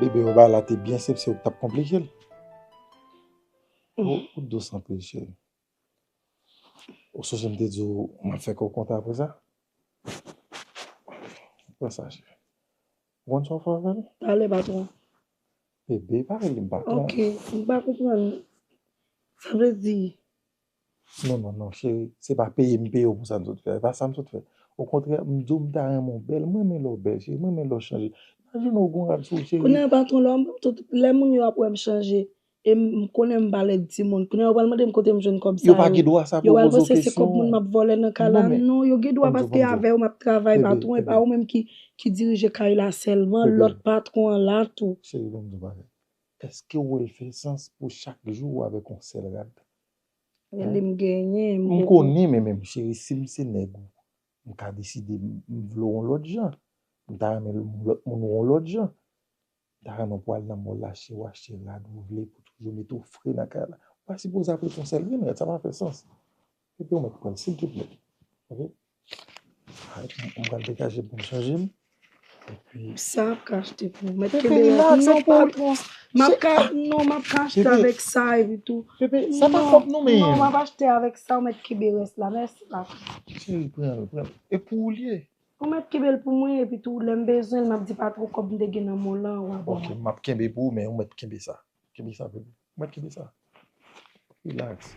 Bebe yo ba la te byen sep se ou tap konplike l. Ou dous anpil cheri. Ou sonje m te di ou map fè kè w kontan apre sa? Pran sa cheri. Ou konn sa w fè avè l? Pale patron. Bebe pa rele m patron. Ok, m pa konprann. Sa vle di Non non non cheri se pa peye m peye w pou sa m sot fè a e pa sa m sot fè okontrè m di w m ta renmen w bèl m renmen lè w bèl cheri m renmen lè w chanje imajine w ou gon rad sou w cheri. Kounye a patron lè m tout lè moun yo ap wè m chanje e m konnen m pa lèd timoun kounye a yo pral mande m kote m jwenn kòb sa yo yo pa gen dwa sa pou yo poze w kesyon yo pral panse se kòb moun m ap vòlè nan kay la non yo gen dwa paske avè w m ap travay patron e pa ou menm ki ki dirije kay la sèlman lòt patron an la tou. Cheri ban m di w bagay èske w wè l fè sans pou chak jou ou avèk yon sèl rad Eli m genyen m M konnen men men cheri sim se nèg ou m ka deside m vle w yon lòt jan m ta renmen lòt moun w yon lòt jan m ta renmen pou al nan mòl la achte w achte rad ou vle pou toujou mete w fre nan kay la ou pa sipoze ap reponn sèlmn rèd sa pa fè sans epi w mèt prann silvouplè ok. Mwen pral degaje pou m chanje m. Sa ap ka achte pou ou. Mèt kenbe la. Pepe non patron. M ap ka non m ap ka achte avèk sa epi tou. Pepe sa pa kòb nou men. Non m ap achte avèk sa ou mèt kenbe rès la. Mèsi patron. Cheri pran l pran l. E pou ou li ye? Ou mèt kenbe l pou mwen epi tou lè m bezwen l m ap di patron kòb m te gen nan mall lan ou a ban mwen. Ok m ap kenbe pou ou men ou mèt kenbe sa. Kenbe sa pou mwen. Mwen kite sa. Relax.